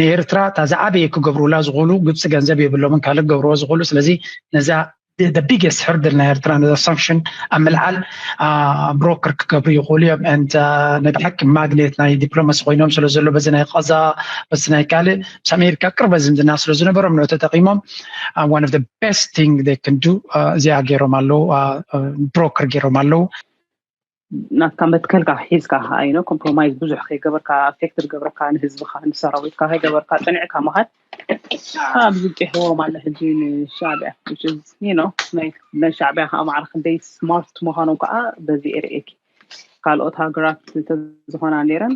ንኤርትራ እታ ዝዓበየ ክገብሩላ ዝኽእሉ ግብፂ ገንዘብ የብሎምን ካልእ ክገብርዎ ዝኽእሉ ስለዚ ነዛ the biggest hurdle ናይ ኤርትራ ነዛ ሳንክሽን ኣብ ምልዓል ብሮከር ክገብሩ ይኽእሉ እዮም ንድ ናይ ብሓቂ ማግኔት ናይ ዲፕሎማሲ ኮይኖም ስለ ዘሎ በዚ ናይ ቐዛ በዚ ናይ ካልእ ምስ ኣሜሪካ ቅርበ ዝምድና ስለ ዝነበሮም ንዑ ተጠቂሞም ዋን ኦፍ ቤስት ቲንግ ክንዱ እዚኣ ገይሮም ኣለዉ ብሮከር ገይሮም ኣለዉ ናትካ መትከልካ ሒዝካ ከዓ ዩ ኮምፕሮማይዝ ብዙሕ ከይገበርካ ኣፌክት ዝገብረካ ንህዝብካ ንሰራዊትካ ከይገበርካ ፀኒዕካ ምካድ ኣብዚ ጢሕዎ ማለ ሕጂ ንሻዕቢያ ናይ ሻዕቢያ ከዓ ማዕረ ክንደይ ስማርት ምኳኖም ከዓ በዚ ኤርእኪ ካልኦት ሃገራት እንተዝኮና ነይረን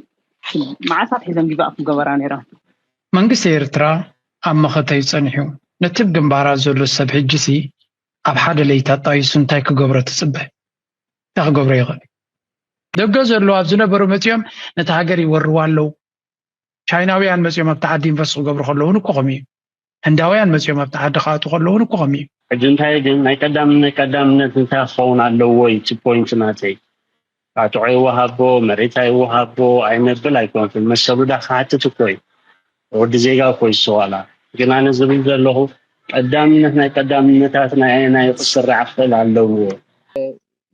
መዓልታት ሒዘን ጊቫእ ክገበራ ነይረን መንግስቲ ኤርትራ ኣብ መኸተዩ ጸኒሑ ነቲ ብ ግንባራት ዘሎ ሰብ ሕጂሲ ኣብ ሓደ ለይታ ኣጣይሱ እንታይ ክገብሮ ትጽበ እንታይ ክገብሮ ይኽእል ደገ ዘለዉ ኣብ ዝነበሩ መፂኦም ነቲ ሃገር ይወርዋ ኣለዉ ቻይናውያን መፂኦም ኣብቲ ዓዲ ኢንቨስት ክገብሩ ከለውን እኮ ከምኡ እዩ ህንዳውያን መፂኦም ኣብቲ ዓዲ ክኣቱ ከለውን እኮ ከምኡ እዩ ሕጂ እንታይ ግን ናይ ቀዳምነት ቀዳምነት እንታይ ክኸውን ኣለዎ እዩ እቲ ፖይንት ናተይ ኣትዖ ይወሃቦ መሬት ኣይወሃቦ ኣይነብል ኣይኮንኩን መሰሉ ዳ ክሓትት እኮ እዩ ወዲ ዜጋ እኮ ይስተዋላ ግን ኣነ ዝብል ዘለኹ ቀዳምነት ናይ ቀዳምነታት ናይ ኣየናዩ ክስራዕ ክኽእል ኣለዎ።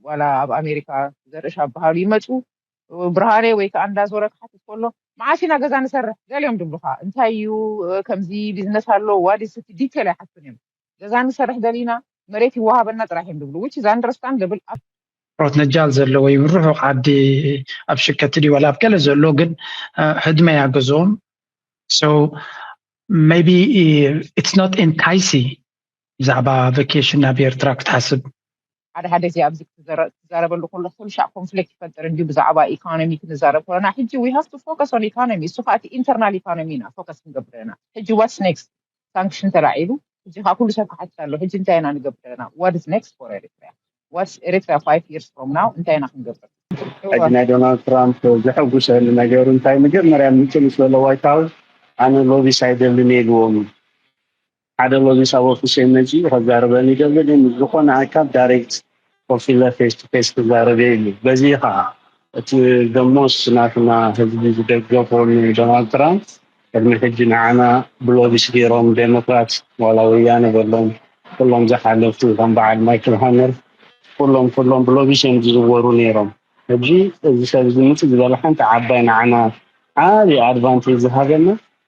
ዋላ ኣብ ኣሜሪካ ዘርእሻ ዝበሃሉ ይመጹ ብርሃኔ ወይ ከኣ እንዳ ዞረ ክሓትት ከሎ መዓስ ኢና ገዛ ንሰርሕ ገሊኦም ድብሉካ እንታይ እዩ ከምዚ ቢዝነስ ኣሎ ዋዲስቲ ዲቴል ኣይሓቱን እዮም ገዛ ንሰርሕ ደሊና መሬት ይወሃበና ጥራሕ እዮም ድብሉ which is understandable ኣብ ሮትነጃል ዘሎ ወይ ርሑቕ ዓዲ ኣብ ሽከቲ ድዩ ዋላ ኣብ ገለ ዘሎ ግን ህድመ እያ ገዝኦም so maybe it's not enticing ብዛዕባ ቫኬሽን ናብ ኤርትራ ክትሓስብ ሓደ ሓደ እዚ ኣብዚ ክትዛረበሉ ከለኹ ኩልሻዕ ኮንፍሊክት ይፈጥር እንድዩ ብዛዕባ ኢኮኖሚ ክንዛረብ ከለና ሕጂ ዊ ሃቭ ቱ ፎከስ ኦን ኢኮኖሚ እሱ ከኣ እቲ ኢንተርናል ኢኮኖሚ ኢና ፎከስ ክንገብር ኢና ሕጂ ዋትስ ኔክስት ሳንክሽን ተላዒሉ ሕጂ ከኣ ኩሉ ሰብ ክሓትት ኣሎ ሕጂ እንታይ ኢና ንገብር ኢና ዋት ኢዝ ኔክስት ፎር ኤሪትሪያ ዋትስ ኤሪትሪያ ፋይቭ ይርስ ፍሮም ናው እንታይ ኢና ክንገብር ሕጂ ናይ ዶናልድ ትራምፕ ዘሐጉሰኒ ነገር እንታይ መጀመርያ ምጽ ምስ በለ ዋይት ሃውስ ኣነ ሎቢስ ኣይደልን ኢየ ኢልዎም ኢዩ ሓደ ሎሚ ሳብ ኦፊሰይ መጺኡ ከዛርበኒ ይደሊ እዩ ምስ ዝኮነ ኣካል ዳሬክት ኮፍ ኢለ ፌስ ቱ ፌስ ክዛረብ እየ ኢሉ በዚ እዩ ከኣ እቲ ደሞስ ናትና ህዝቢ ዝደገፎ ን ዶናልድ ትራምፕ ቅድሚ ሕጂ ንዓና ብሎቢስ ጌሮም ደሞክራት ዋላ ወያነ በሎም ኩሎም ዝሓለፉ ከም በዓል ማይክል ሃመር ኩሎም ኩሎም ብሎቢስ እዮም ዝዝወሩ ኔሮም ሕጂ እዚ ሰብ እዚ ምጽእ ዝበለ ሓንቲ ዓባይ ንዓና ዓቢ ኣድቫንቴጅ ዝሃበና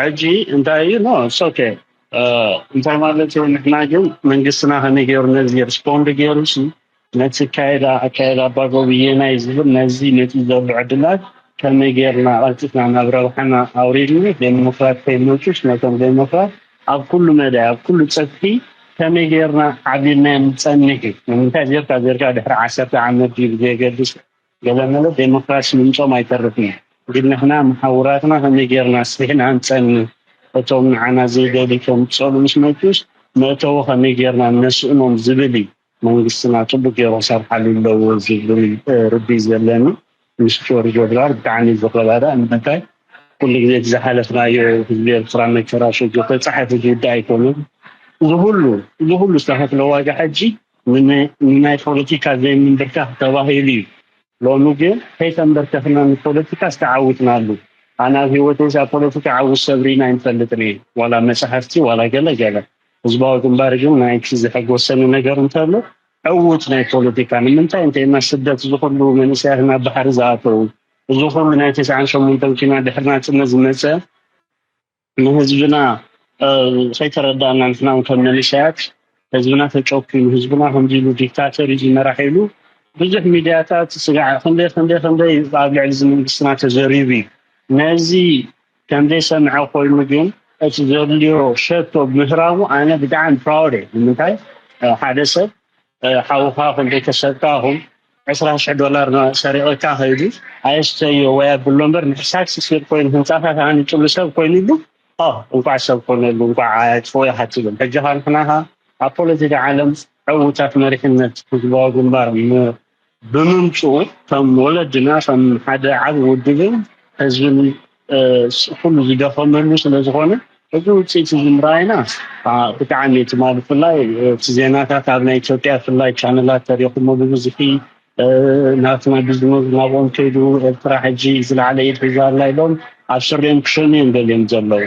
ሕጂ እንታይ እዩ ኖ ኢትስ ኦኬ እንታይ ማለት እዩ ንሕና ግን መንግስትና ከመይ ገይሩ ነዚ ሪስፖንድ ገይሩ ሲ ነቲ ካይዳ ኣካይዳ ኣባጎብዬ ናይ ዝብል ነዚ ነቲ ዘሎ ዕድላት ከመይ ገይርና ቀልጢፍና ናብ ረብሓና ኣውሪድና ዴሞክራት ከይመፁስ ነቶም ዴሞክራት ኣብ ኩሉ መዳይ ኣብ ኩሉ ፀፍሒ ከመይ ገይርና ዓብልናዮም ንፀንሕ እዩ ንምንታይ ዜርካ ዜርካ ድሕሪ ዓሰርተ ዓመት ድዩ ብዘየገድስ ገለመለ ደሞክራሲ ምምጾም ኣይተርፍን ግን ንሕና መሓውራትና ከመይ ጌርና ኣስፊሕና ንጸኒ እቶም ንዓና ዘይደልዩ ከምጽእሉ ምስ መጹስ መእተዊ ከመይ ጌርና ነስእኖም ዝብል እዩ መንግስትና ጽቡቅ ጌሩ ክሰርሓሉ ኣለዎ ዝብል ርድኢት ዘለኒ ምስ ጆርጆ ድራር ብጣዕሚ ዝረዳዳእ ንምንታይ ኩሉ ግዜ እቲ ዝሓለፍናዮ ህዝቢ ኤርትራ መከራ ሸግር ተጻሒፉ ዝውዳእ ኣይኮነን እዚ ኩሉ እዚ ኩሉ ዝተኸፍለ ዋጋ ሕጂ ንናይ ፖለቲካ ዘይምንብርካኽ ተባሂሉ እዩ ሎሚ ግን ከይተንበርከኽና ንፖለቲካስ ተዓዊትናሉ ኣነ ኣብ ሂወተይስ ኣብ ፖለቲካ ዓውት ሰብሪና ኣይንፈልጥን እየ ዋላ መጻሕፍቲ ዋላ ገለ ገለ ህዝባዊ ግንባር ግን ናይቲ ዘሐጎሰኒ ነገር እንተሎ ዕውት ናይ ፖለቲካ ንምንታይ እንተይልና ስደት እዚ ኩሉ መንእሰያት ናብ ባሕሪ ዝኣተው እዚ ኩሉ ናይ ተስዓን ሸሞንተን ኲናት ድሕሪ ናጽነት ዝመጸ ንህዝብና ከይተረዳእና ንሕና ውን ከም መንእሰያት ህዝብና ተጨኩኑ ህዝብና ከምዚ ኢሉ ዲክታተር እዩ ዝመራሕ ኢሉ ብዙሕ ሚድያታት ስጋዕ ክንደይ ክንደይ ክንደይ ኣብ ልዕሊ እዚ መንግስትና ተዘሪቡ እዩ ነዚ ከም ዘይሰምዐ ኮይኑ ግን እቲ ዘድልዮ ሸቶ ብምህራሙ ኣነ ብጣዕሚ ፕራውድ እየ ንምንታይ ሓደ ሰብ ሓውካ ኮም ቤተሰብካ ኮም ዕስራ ሽሕ ዶላር ሰሪቕካ ከይዱ ኣየስተዮ ወይ ኣብሎ እምበር ንሕሳድ ስስር ኮይኑ ህንፃታት ኣንጭሉ ሰብ ኮይኑሉ እንኳዕ ሰብ ኮነሉ እንኳዕ ኣያጥፎ ኢኻ ትብል ሕጂ ኻንሕናኻ ኣብ ፖለቲካ ዓለም ዕውታት መሪሕነት ህዝባዊ ግንባር ብምምፅኡ ከም ወለድና ከም ሓደ ዓብ ውድብን ህዝብን ኩሉ ዝደኸመሉ ስለዝኾነ እዚ ውፅኢት እዚ ምርኣይና ብጣዕሚ ትማሊ ብፍላይ እቲ ዜናታት ኣብ ናይ ኢትዮጵያ ብፍላይ ቻነላት ተሪኹሞ ብብዝሒ ናትና ቢዝነስ ናብኦም ከይዱ ኤርትራ ሕጂ ዝለዓለ ኢድ ሒዛ ኣላ ኢሎም ኣብ ስሪኦም ክሸኑ እዮም ደልዮም ዘለዉ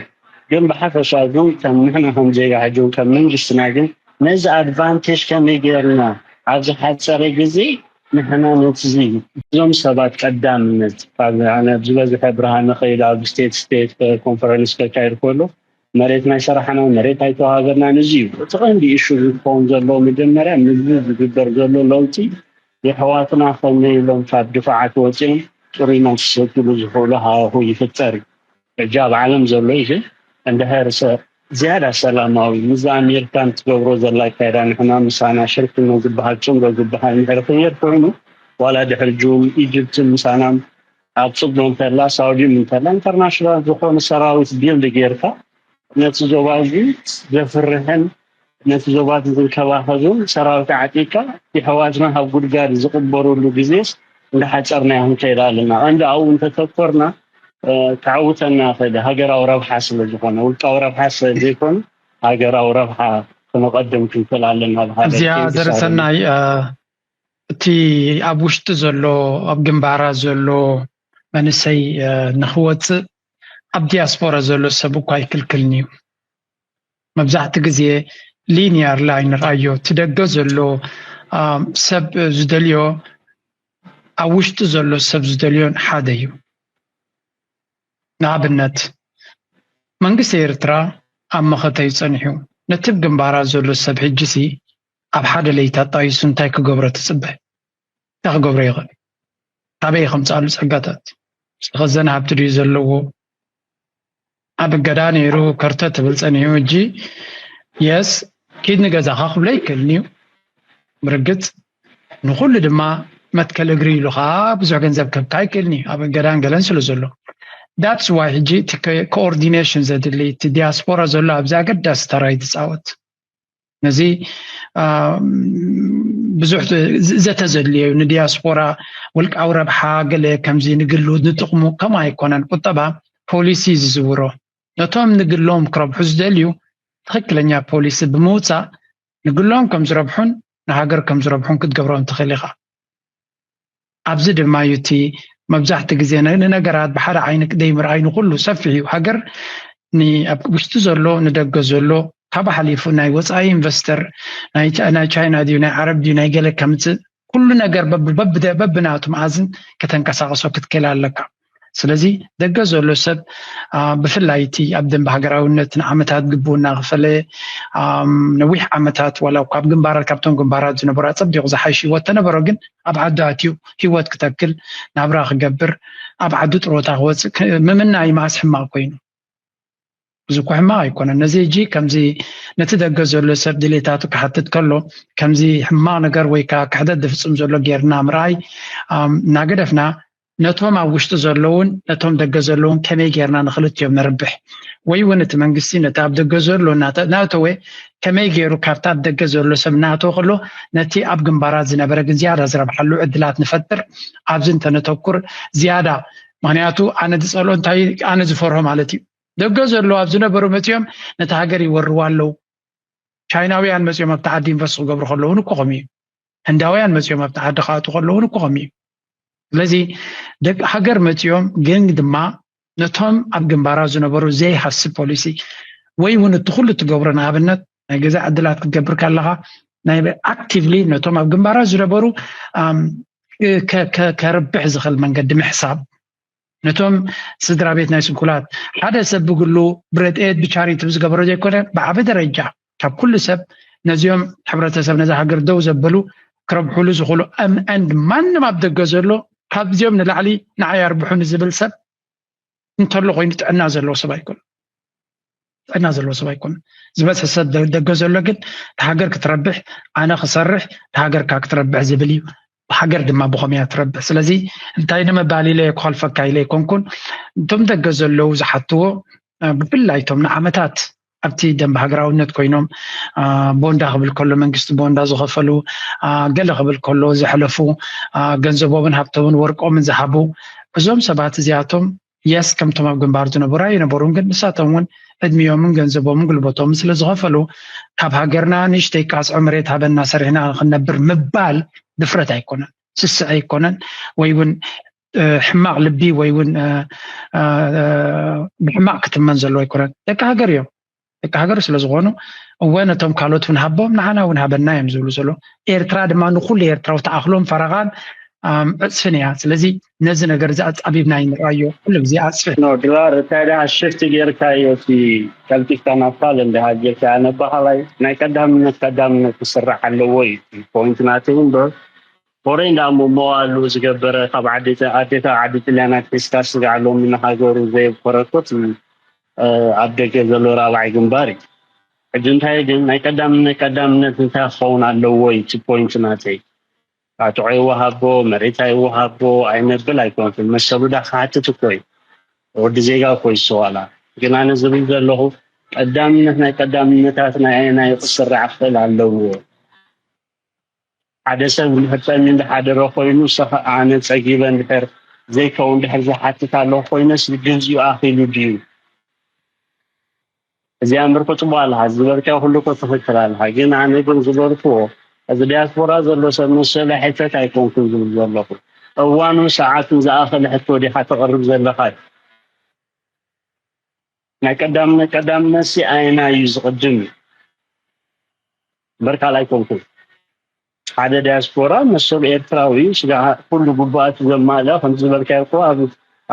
ግን ብሓፈሻ ግን ከም ንሕና ከም ዜጋ ሕጂ ከም መንግስትና ግን ነዚ ኣድቫንቴጅ ከመይ ጌርና ኣብ ዝሓጸረ ግዜ ንሕና ነቲ እዞም ሰባት ቀዳምነት ካብ ኣነ ዝበዝሐ ብርሃነ ከይዱ ኣብ ስቴት ስቴት ኮንፈረንስ ከካይድ ከሎ መሬት ናይ ሰራሕና መሬት ኣይተዋሃበናን እዚ እዩ እቲ ቀንዲ እሹ ዝኸውን ዘለዎ መጀመርያ ንዚ ዝግበር ዘሎ ለውጢ የሕዋትና ከመይ ኢሎም ካብ ድፋዓት ወፂኦም ጥሩይ ማይ ክሰትሉ ዝኽእሉ ሃዋሁ ይፍጠር እዩ ሕጂ ኣብ ዓለም ዘሎ ኢዩ ግን እንድህርሰ ዝያዳ ሰላማዊ ምስዛ ኣሜሪካን ትገብሮ ዘላ ኣካይዳ ንሕና ምሳና ሽርክነት ዝብሃል ጽምዶ ዝብሃል እንድሕሪ ክየድ ኮይኑ ዋላ ድሕሪ ጁም ኢጅብትን ምሳናም ኣብ ጽምዶ እንተላ ሳውዲም እንተላ ኢንተርናሽናል ዝኾነ ሰራዊት ቢልድ ጌርካ ነቲ ዞባ እዚ ዘፍርሕን ነቲ ዞባ'ቲ ዝንከባኸብም ሰራዊት ዓጢቕካ የሕዋትና ካብ ጉድጋድ ዝቕበሩሉ ግዜስ እንዳሓጸርናዮ ክንከይድ ኣለና። ቀንዲ ኣብኡ እንተተኮርና ከዕውተና ይኽእል ሃገራዊ ረብሓ ስለዝኾነ። ውልቃዊ ረብሓ ስለዘይኮነ ሃገራዊ ረብሓ ክነቐድም ክንክእል ኣለና በሃሊ እየ። እዚኣ Thanks ኣሮን። ዘርሰናይ እ፣ እቲ ኣብ ውሽጢ ዘሎ ኣብ ግንባራት ዘሎ መንእሰይ እ፣ ንክወፅእ ኣብ ዲያስፖራ ዘሎ ሰብ እኳ ኣይክልክልን እዩ መብዛሕቲ ግዜ ሊንያር ላይን ንርኣዮ እቲ ደገ ዘሎ ሰብ ዝደልዮ ኣብ ውሽጢ ዘሎ ሰብ ዝደልዮን ሓደ እዩ ንኣብነት መንግስቲ ኤርትራ ኣብ መኸተዩ ጸኒሑ ነቲ ብ ግንባራት ዘሎ ሰብ ሕጂሲ ኣብ ሓደ ለይቲ ኣጣይሱ እንታይ ክገብሮ ትጽበ እንታይ ክገብሮ ይኽእል? ካበይ ከምፅኣሉ ፀጋታት? ዝተኸዘነ ሃብቲ ድዩ ዘለዎ? ኣብ እገዳ ነይሩ ከርተ ትብል ፀኒሑ እጂ የስ ኪድ ንገዛኻ ክብሎ ይክእልን እዩ ብርግፅ ንኩሉ ድማ መትከል እግሪ ኢሉ ከዓ ብዙሕ ገንዘብ ከብካ ይክእልን እዩ ኣብ እገዳን ገለን ስለ ዘሎ ዳትስ ዋይ ሕጂ እቲ ኮኦርዲኔሽን ዘድሊ እቲ ዲያስፖራ ዘሎ ኣብዚ ኣገዳሲ ተራ ይትፃወት ነዚ ብዙሕ ዘተ ዘድልዮ እዩ ንዲያስፖራ ውልቃዊ ረብሓ ገለ ከምዚ ንግሉ ንጥቕሙ ከምኡ ኣይኮነን ቁጠባ ፖሊሲ ዝዝውሮ ነቶም ንግሎም ክረብሑ ዝደልዩ ትኽክለኛ ፖሊሲ ብምውፃእ ንግሎም ከም ዝረብሑን ንሃገር ከም ዝረብሑን ክትገብሮም ትኽእል ኢኻ ኣብዚ ድማ እዩ እቲ መብዛሕቲ ግዜ ንነገራት ብሓደ ዓይኒ ዘይምርኣይ ንኩሉ ሰፊሕ እዩ ሃገር ኣብ ውሽጢ ዘሎ ንደገ ዘሎ ካብ ሓሊፉ ናይ ወፃኢ ኢንቨስተር ናይ ቻይና ድዩ ናይ ዓረብ ድዩ ናይ ገለ ከምፅእ ኩሉ ነገር በብናቱ መኣዝን ከተንቀሳቀሶ ክትክእል ኣለካ ስለዚ ደገ ዘሎ ሰብ ብፍላይ እቲ ኣብ ደንብ ሃገራዊነት ንዓመታት ግቡና ክፈለ ነዊሕ ዓመታት ዋላ ካብ ግንባራት ካብቶም ግንባራት ዝነበሩ ኣፀቢቑ ዝሓይሽ ሂወት ተነበሮ ግን ኣብ ዓዱ ኣትዩ ሂወት ክተክል ናብራ ክገብር ኣብ ዓዱ ጥሮታ ክወፅእ ምምናይ መኣስ ሕማቕ ኮይኑ እዚ እኮ ሕማቕ ኣይኮነን ነዚ ሕጂ ከምዚ ነቲ ደገ ዘሎ ሰብ ድሌታቱ ክሓትት ከሎ ከምዚ ሕማቕ ነገር ወይ ከዓ ክሕደት ዝፍፅም ዘሎ ጌርና ምርኣይ እናገደፍና ነቶም ኣብ ውሽጢ ዘለውን ነቶም ደገ ዘለውን ከመይ ጌርና ንክልቲኦም ነርብሕ ወይ እውን እቲ መንግስቲ ነቲ ኣብ ደገ ዘሎ እናተናእተወ ከመይ ገይሩ ካብቲ ኣብ ደገ ዘሎ ሰብ እናእተወ ከሎ ነቲ ኣብ ግንባራት ዝነበረ ግን ዝያዳ ዝረብሓሉ ዕድላት ንፈጥር ኣብዚ እንተነተኩር ዝያዳ ምክንያቱ ኣነ ዝፀልኦ እንታይ ኣነ ዝፈርሆ ማለት እዩ ደገ ዘለዉ ኣብ ዝነበሩ መፅኦም ነቲ ሃገር ይወርዋ ኣለዉ ቻይናውያን መፅኦም ኣብቲ ዓዲ ኢንቨስት ክገብሩ ከለዉ እኮ ከምኡ እዩ ህንዳውያን መፅኦም ኣብቲ ዓዲ ክኣቱ ከለዉ እኮ ከምኡ እዩ ስለዚ ደቂ ሃገር መፅኦም ግን ድማ ነቶም ኣብ ግንባራ ዝነበሩ ዘይሃስብ ፖሊሲ ወይ እውን እቲ ኩሉ እትገብሮ ንኣብነት ናይ ገዛ ዕድላት ክትገብር ከለኻ ናይ ኣክቲቭሊ ነቶም ኣብ ግንባራት ዝነበሩ ከርብሕ ዝኽእል መንገዲ ምሕሳብ ነቶም ስድራ ቤት ናይ ስንኩላት ሓደ ሰብ ብግሉ ብረድኤት ብቻሪቲ ብዝገበሮ ዘይኮነ ብዓበ ደረጃ ካብ ኩሉ ሰብ ነዚኦም ሕብረተሰብ ነዚ ሃገር ደው ዘበሉ ክረብሕሉ ዝኽእሉ ኣንድ ማንም ኣብ ደገ ዘሎ ካብዚኦም ንላዕሊ ንዓይ ኣርብሑኒ ዝብል ሰብ እንተሎ ኮይኑ ጥዕና ዘለዎ ሰብ ኣይኮነ ጥዕና ዘለዎ ሰብ ኣይኮነ ዝበፅሒ ሰብ ደገ ዘሎ ግን ሃገር ክትረብሕ ኣነ ክሰርሕ ሃገርካ ክትረብሕ ዝብል እዩ ሃገር ድማ ብኸመይ እያ ትረብሕ ስለዚ እንታይ ንምባል ኢለ ክኸልፈካ ኢለ ኣይኮንኩን እቶም ደገ ዘለዉ ዝሓትዎ ብፍላይ እቶም ንዓመታት ኣብቲ ደንብ ሃገራውነት ኮይኖም ቦንዳ ክብል ከሎ መንግስቲ ቦንዳ ዝኸፈሉ ገለ ክብል ከሎ ዘሕለፉ ገንዘቦምን ሃብቶምን ወርቆምን ዝሃቡ እዞም ሰባት እዚኣቶም የስ ከምቶም ኣብ ግንባር ዝነበሩ ኣይነበሩን ግን ንሳቶም እውን ዕድሚዮምን ገንዘቦምን ጉልበቶምን ስለ ዝኸፈሉ ካብ ሃገርና ንእሽተይ ቃፅዖ መሬት ሃበና ሰሪሕና ክንነብር ምባል ድፍረት ኣይኮነን ስስዐ ኣይኮነን ወይ እውን ሕማቅ ልቢ ወይ እውን ብሕማቅ ክትመን ዘለዎ ኣይኮነን ደቂ ሃገር እዮም ደቂ ሃገር ስለ ዝኾኑ እወ ነቶም ካልኦት እውን ሃቦም ንዓና እውን ሃበና እዮም ዝብሉ ዘሎ ኤርትራ ድማ ንኩሉ ኤርትራዊ ተኣኽሎን ፈረቓን ዕፅፍን እያ ስለዚ ነዚ ነገር እዚ ኣፃቢብና ይንራዮ ኩሉ ግዜ ኣፅፍሕ ኖ ድራር እንታይ ደኣ ሽፍቲ ጌርካዮ እቲ ቀልጢፍካ ናብ ካልእ እንዳሃጀካ ኣነባሃላይ ናይ ቀዳምነት ቀዳምነት ክስራሕ ኣለዎ እዩ ፖይንት ናተይ እምበር ሆረይ እንዳ መዋእሉ ዝገበረ ካብ ዓዲ ኣዴካ ዓዲ ጥልያን ኣትሒዝካ ስጋዕ ሎሚ ንሃገሩ ዘየብኮረኮት እዩ ኣብ ደገ ዘሎ ራብዓይ ግንባር እዩ ሕጂ እንታይ ግን ናይ ቀዳምነት ቀዳምነት እንታይ ክኸውን ኣለዎ እዩ እቲ ፖይንት ናተይ ቃጥዖ ይወሃቦ መሬት ኣይወሃቦ ኣይነብል ኣይኮንኩን መሰሉ ዳ ክሓትት እኮ እዩ ወዲ ዜጋ እኮ ይስተዋላ ግን ኣነ ዝብል ዘለኹ ቀዳምነት ናይ ቀዳምነታት ናይ ኣየናይ ክስራዕ ክኽእል ኣለዎ ሓደ ሰብ እንድሕር ጸሚኡ ዝሓደረ ኮይኑ እሰ ከኣ ኣነ ጸጊበ እንድሕር ዘይከውን እንድሕር ዝሓትት ኣለኹ ኮይነስ ግዝዩ ኣኺሉ ድዩ እዚኣ እምበር እኮ ጽቡቅ ኣለካ ዝበልካዮ ኩሉ እኮ ትክክል ኣለካ ግን ኣነ ግን ዝበልክዎ እዚ ዲያስፖራ ዘሎ ሰብ መሰለ ሕተት ኣይኮንኩን ዝብል ዘለኹ እዋኑን ሰዓቱን ዝኣኸለ ሕቶ ዲኻ ተቕርብ ዘለኻ ናይ ቀዳምነት ቀዳምነትሲ ኣየናይ እዩ ዝቕድም እዩ እምበር ካልእ ኣይኮንኩን ሓደ ዳያስፖራ መሰሉ ኤርትራዊ እዩ ስጋ ኩሉ ጉባኣት ዘማልእ ከም ዝበልካዮ እኮ ኣብ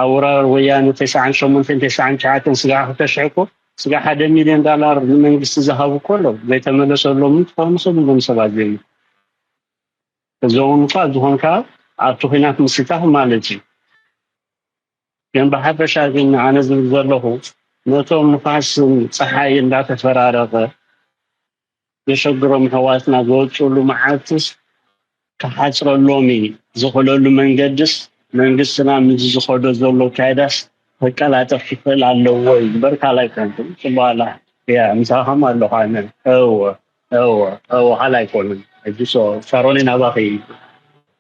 ኣውራር ወያነ ተስዓን ሸሞንተን ተስዓን ትሽዓተን ስጋ ክልተ ሽሕ እኮ ስጋ ሓደ ሚልዮን ዳላር ንመንግስቲ ዝሃቡ እኮ ኣለዉ ዘይተመለሰሎም ክኾኑ ሰብ እዞም ሰባት ዘዩ እዞም እኳ ዝኾንካ ኣብቲ ኩናት ምስታፍ ማለት እዩ ግን ብሓፈሻ ግን ኣነ ዝብል ዘለኹ ነቶም ንፋስን ፀሓይ እንዳተፈራረቐ ዘሸግሮም ኣሕዋትና ዝወፅኡሉ መዓልትስ ክሓፅረሎም ዝኽእለሉ መንገድስ መንግስትና ምስዚ ዝኸዶ ዘሎ ኣካይዳስ ከቀላጥፍ ክኽእል ኣለዎ እዩ እምበር ካልኣይ ኮንኩም ፅቡቕ ኣላ እያ ምሳኻም ኣለኹ ኣነ እወ እወ እወ ኋላ ኣይኮኑን ሕጂ ሶ ሳሮኒ ናባኺ እዩ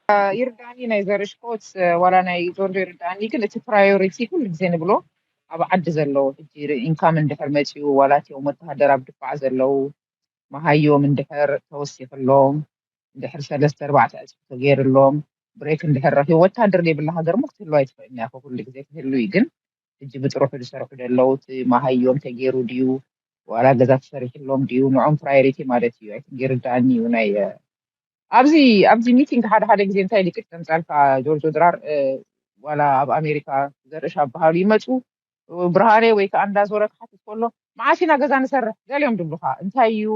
አ፣ ይርዳእኒ ናይ ዘርሽኮት እ፣ ዋላ ናይ ጆርጆ ይርዳእኒ ግን እቲ ፕራዮሪቲ ኩሉ ግዜ ንብሎ ኣብ ዓዲ ዘለዉ ሕጂ ኢንካም እንድሕር መፂኡ ዋላ እትኦም ወተሃደር ኣብ ድፋዕ ዘለዉ መሃዮም እንድሕር ተወሲኽሎም እንድሕር ሰለስተ ኣርባዕተ ዕፅፊ ተገይርሎም ብሬክ እንድሕር ረኪቡ ወታደር ዘይብላ ሃገር እሞ ክትህሉ ኣይትኽእልን እያ እኮ ኩሉ ግዜ ክህሉ እዩ ግን ሕጂ ብጥርሑ ዝሰርሑ ደለዉ እቲ ማሃዮም ተጌሩ ድዩ ዋላ ገዛ ተሰሪሕሎም ድዩ ንዖም ፕራዮሪቲ ማለት እዩ ኣይቲንክ ይርዳኣኒ እዩ ናይ ኣብዚ ኣብዚ ሚቲንግ ሓደ ሓደ ግዜ እንታይ ኢሉ ቅጭ ዘምጻልካ ጆርጆ ድራር ዋላ ኣብ ኣሜሪካ ዘርእሽ ኣባሃሉ ይመጹ ብርሃኔ ወይ ከኣ እንዳ ዞረ ክሓትት ኮሎ መዓስ ኢና ገዛ ንሰርሕ ገሊኦም ድብሉካ እንታይ እዩ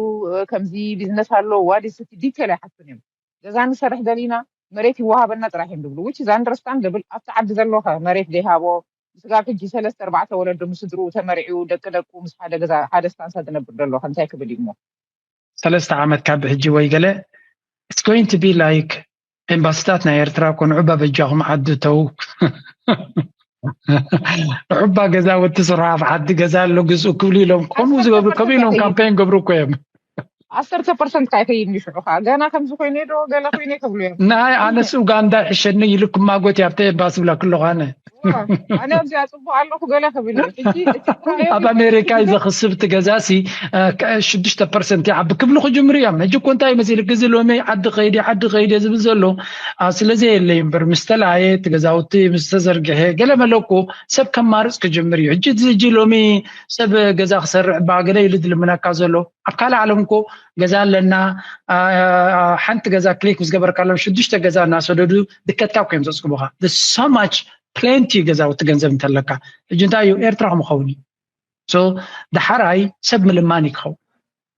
ከምዚ ቢዝነስ ኣሎ ዋዲ ስቲ ዲቴል ኣይሓቱን እዮም ገዛ ንሰርሕ ደሊና መሬት ይወሃበና ጥራሕ እዮም ድብሉ which is understandable ኣብቲ ዓዲ ዘሎ ከ መሬት ደይሃቦ ንስጋብ ሕጂ ሰለስተ ኣርባዕተ ወለዶ ምስ ስድርኡ ተመርዕዩ ደቂ ደቁ ምስ ሓደ ገዛ ሓደ ስታንሳ ዝነብር ደሎ ከ እንታይ ክብል እዩ እሞ። ሰለስተ ዓመት ካብ ሕጂ ወይ ገለ it's going to be like ኤምባሲታት ናይ ኤርትራ እኮ ንዑባ በጃኹም ዓዲ እተዉ ንዑባ ገዛውቲ ስርሑ ኣብ ዓዲ ገዛ ኣሎ ግዝኡ ክብሉ ኢሎም ከምኡ ዝገብሩ ከምኡ ኢሎም ካምፔን ገብሩ እኮ እዮም። ዓሰርተ ፐርሰንት ከዓ ይኸይድ እዩ ሽዑ ከዓ ገና ከምዚ ኮይነ ዶ ገለ ኮይነ ክብሉ እዮም ናይ ኣነስ ኡጋንዳ ይሕሸኒ ኢሉ ክማጎት እዩ ኣብቲ ኤምባሲ ብላ ክለኹ ኣነ ዋው፣ ኣነ ኣብዚኣ ፅቡቅ ኣለኹ ገለ ክብል እዩ ሕጂ እቲ ጥራዮም ኣብ ኣሜሪካ እዩ ዘኽስብ እቲ ገዛሲ እ፣ ከ- ሽዱሽተ ፐርሰንት ይዓቢ ክብሉ ክጅምሩ እዮም ሕጂ እኮ እንታይ መሲልክ እዚ ሎሚ ዓዲ ከይድ ዓዲ ከይድ እየ ዝብል ዘሎ ኣብ ስለ ዘየለ እዩ እምበር ምስ ተለኣየ እቲ ገዛውቲ ምስ ተዘርግሐ ገለ መለ እኮ ሰብ ከማርፅ ክጅምር እዩ ሕጂ እዚ ሕጂ ሎሚ ሰብ ገዛ ክሰርዕ እባ ገለ ኢሉ ዝልምነካ ዘሎ ኣብ ካልእ ዓለም እኮ ገዛ ኣለና ሓንቲ ገዛ ክሊክ ምስ ገበርካሎም ሽዱሽተ ገዛ እናሰደዱ ድከትካ እኮ እዮም ዘፅግቡካ ሶማች ፕሌንቲ እዩ ገዛውቲ ገንዘብ እንተለካ ሕጂ እንታይ እዩ ኤርትራ ክምኸውን እዩ ሶ ዳሓራይ ሰብ ምልማን እዩ ክኸውን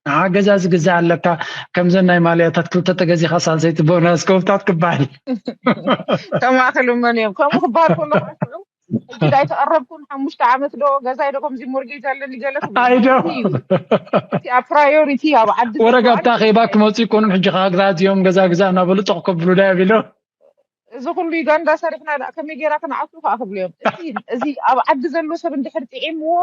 ንዓ ገዛ ዝግዛእ ኣለካ ከምዘን ናይ ማልያታት ክልተ ተገዚኻ ሳልሰይቲ ቦናስ ከውታት ክበሃል ከምኣ ክሉ መን እዮም ከምኡ ክበሃል ከሎ ክረፍዑ ሕጂ ዳይ ተቐረብኩን ሓሙሽተ ዓመት ዶ ገዛይ ዶ ከምዚ ሞርጌጅ ኣለኒ ገለ ኣይዶ እቲ ኣብ ፕራዮሪቲ ኣብ ዓዲ ወረጋታ ኼባ ክመፁ ይኮኑም ሕጂ ከዓ ግዛ እዚኦም ገዛ ግዛ እናበሉ ጦቕ ከብሉ ዳይ ኣቢሎ እዚ ኩሉ ዩጋንዳ ሰሪሕና ዳ ከመይ ጌራ ክንዓቱ ከዓ ክብሉ እዮም እቲ እዚ ኣብ ዓዲ ዘሎ ሰብ እንድሕር ጥዒምዎ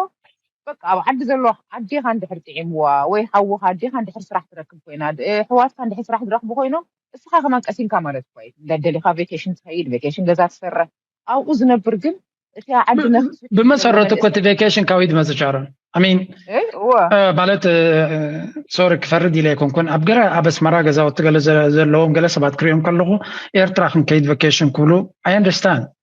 በቃ ኣብ ዓዲ ዘሎ ኣዴኻ እንድሕር ጥዒምዋ ወይ ሓውኻ ኣዴኻ እንድሕር ስራሕ ትረክብ ኮይና ኣሕዋትካ እንድሕር ስራሕ ዝረኽቡ ኮይኖም እስኻ ከማን ቀሲንካ ማለት እኳ እዩ እንዳደሊኻ ቬኬሽን ትኸይድ ቬኬሽን ገዛ ትሰርሕ ኣብኡ ዝነብር ግን እቲ ዓዲ ነፍሲ ፍትሒ ብመሰረቱ እኮ እቲ ቬኬሽን ካበይ ዝመጽእ ቻሮን ኣሚን ማለት ሶሪ ክፈርድ ኢለ ኣይኮንኩን ኣብ ገለ ኣብ ኣስመራ ገዛውቲ ገለ ዘለዎም ገለ ሰባት ክሪኦም ከለኹ ኤርትራ ክንከይድ ቬኬሽን ክብሉ ኣይ ኣንደርስታንድ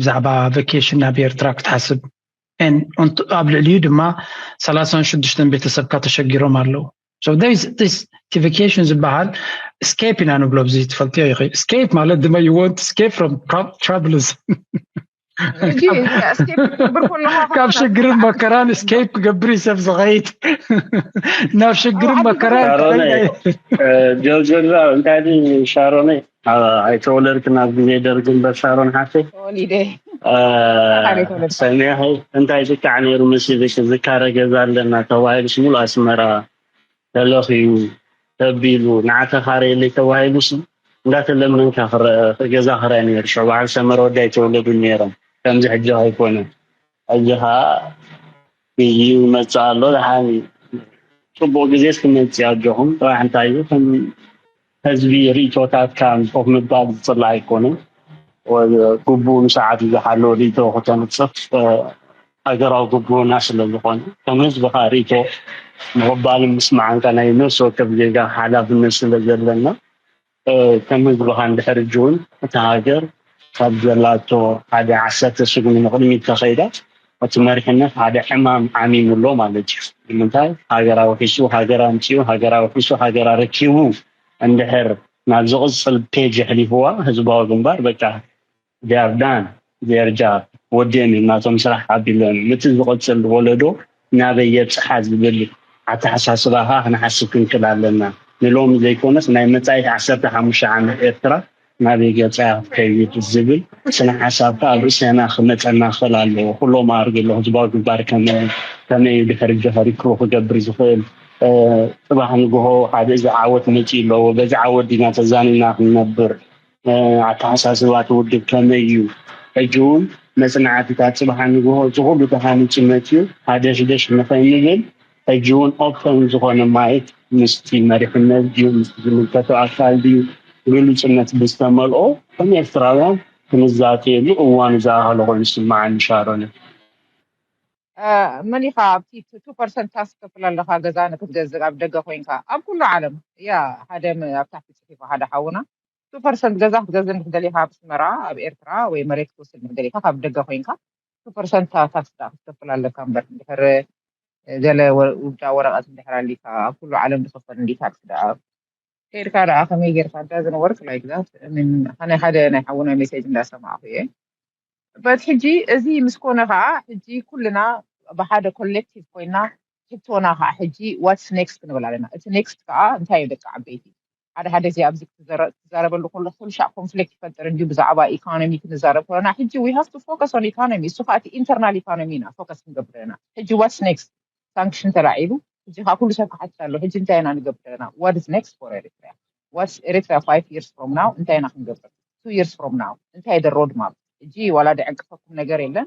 ብዛዕባ ቫኬሽን ናብ ኤርትራ ክትሓስብ ኣብ ልዕሊኡ ድማ ሰላሳን ሽዱሽተን ቤተሰብካ ተሸጊሮም ኣለዉ እቲ ቫኬሽን ዝበሃል ስኬፕ ኢና ንብሎ ብዚ ትፈልጥዮ ይኸ ስኬፕ ማለት ድማ ይወንት ስኬፕ ፍሮም ትራቭልስ ካብ ሽግርን መከራን ስኬፕ ክገብር እዩ ሰብ ዝኸይድ ናብ ሽግርን መከራን ጆርጆ እንታይ ሻሮነይ ኣይተወለድክን ኣብ ግዜ ደርግን በሻሮን ሓፍተይ ተወሊደ ሰሚያ እንታይ ዝቃዕ ነይሩ መሲልሽ ዝካረ ገዛ ኣለና ተባሂሉስ ሙሉ ኣስመራ ተለኽዩ ተቢሉ ንዓተኻረየለይ ተባሂሉስ እንዳተለመንካ ገዛ ክራይ ነይሩ ሽዑ በዓል ሰመረ ወዲ ኣይተወለዱን ነይሮም ከምዚ ሕጂ ኣይኮነን ኣጆኻ ግዜኡ ይመጽእ ኣሎ ደሓን እዩ። ጽቡቅ ግዜስ ክመጽእ እዩ ኣጆኹም ጥራሕ እንታይ እዩ ከም ህዝቢ ሪኢቶታትካ ምስ ኮፍ ምባል ዝጽላእ ኣይኮነን ግቡኡን ሰዓቱ ዝሓለወ ሪኢቶ ክተንጽፍ ሃገራዊ ግቡእና ስለ ዝኾነ ከም ህዝብኻ ሪኢቶ ምቕባልን ምስማዕን ከኣ ናይ ነፍሲ ወከፍ ዜጋ ሓላፍነት ስለ ዘለና ከም ህዝብኻ እንድሕር ሕጂ ውን እታ ሃገር ካብ ዘላቶ ሓደ ዓሰርተ ስጉሚ ንቕድሚት ተኸይዳ እቲ መሪሕነት ሓደ ሕማም ዓሚሙ ኣሎ ማለት እዩ። ንምንታይ ሃገር ኣውሒሱ ሃገር ኣምጺኡ ሃገር ኣውሒሱ ሃገር ኣረኪቡ እንድሕር ናብ ዝቕጽል ፔጅ የሕሊፍዋ ህዝባዊ ግንባር በቃ ጃርዳን ጀርጃር ወዲኦም እዮም ናቶም ስራሕ ኣቢሎም እዮም እቲ ዝቕፅል ወለዶ ናበይ የብፅሓ ዝብል ኣተሓሳስባ ኸዓ ክንሓስብ ክንክእል ኣለና ንሎሚ ዘይኮነስ ናይ መፃኢት ዓሰርተ ሓሙሽተ ዓመት ኤርትራ ናበይ ገፃ እያ ክትከይድ ዝብል ስነ ሓሳብ ኸዓ ኣብ ርእሰና ክመፀና ክኽእል ኣለዎ ኩሎም ኣርግሎ ህዝባዊ ግንባር ከመይ እዩ ድሕሪ ጆሀር ሪክሩ ክገብር ዝኽእል ፅባሕ ንግሆ ሓደ እዚ ዓወት መፂኡ ኣለዎ በዚ ዓወት ዲና ተዛኒና ክንነብር ኣተሓሳስባ እቲ ውድብ ከመይ እዩ? ሕጂ እውን መጽናዕትታት ጽባሕ ንግሆ እቲ ኩሉ ተሃኒጹ መጺኡ ሃደሽደሽ ንኸይንብል ሕጂ እውን ኦፐን ዝኾነ ማይክ ምስቲ መሪሕነት ድዩ ምስቲ ዝምልከቶ ኣካል ድዩ ግሉጽነት ብዝተመልኦ ከም ኤርትራውያን ክንዛተየሉ እዋኑ ዝኣኸለ ኮይኑ ዝስምዓኒ ሻሮነይ። መን ኢኻ ኣብቲ ቱ ፐርሰንት ታክስ ክትከፍል ኣለካ ገዛ ንክትገዝእ ኣብ ደገ ኮይንካ ኣብ ኩሉ ዓለም እያ ሃደም ኣብ ታሕቲ ጽሒፋ ሓደ ሓውና። እቲ ፐርሰንት ገዛ ክትገዝእ እንድሕር ደሊኻ ኣብ ኣስመራ ኣብ ኤርትራ ወይ መሬት ክትወስድ እንድሕር ደሊኻ ካብ ደገ ኮይንካ እቲ ፐርሰንት ታክስ ደኣ ክትከፍል ኣለካ እምበር እንድሕር ገለ ውልዳ ወረቐት እንድሕር ኣሊካ ኣብ ኩሉ ዓለም ዝኽፈል እንድዩ ታክስ ደኣ ከይድካ ደኣ ከመይ ጌርካ ዳዝን ወርክ ላይክ ዛት እሚን ናይ ሓደ ናይ ሓውና ሜሴጅ እንዳሰማዕኩ እየ በት ሕጂ እዚ ምስ ኮነ ከዓ ሕጂ ኩልና ብሓደ ኮሌክቲቭ ኮይና ሕቶና ከዓ ሕጂ ዋትስ ኔክስት ክንብል ኣለና እቲ ኔክስት ከዓ እንታይ እዩ ደቂ ዓበይቲ ሓደ ሓደ እዚ ኣብዚ ክትዛረበሉ ከለኹ ኩልሻዕ ኮንፍሊክት ይፈጥር እንድዩ ብዛዕባ ኢኮኖሚ ክንዛረብ ከለና ሕጂ ዊ ሃቭ ቱ ፎከስ ኦን ኢኮኖሚ እሱ ከኣ እቲ ኢንተርናል ኢኮኖሚ ኢና ፎከስ ክንገብር ኢና ሕጂ ዋትስ ኔክስት ሳንክሽን ተላዒሉ ሕጂ ከኣ ኩሉ ሰብ ክሓትት ኣሎ ሕጂ እንታይ ኢና ንገብር ኢና ዋት ኢዝ ኔክስት ፎር ኤሪትሪያ ዋትስ ኤሪትሪያ ፋይቭ ይርስ ፍሮም ናው እንታይ ኢና ክንገብር ቱ ይርስ ፍሮም ናው እንታይ ደ ሮድ ማፕ ሕጂ ዋላ ድዕንቅፈኩም ነገር የለን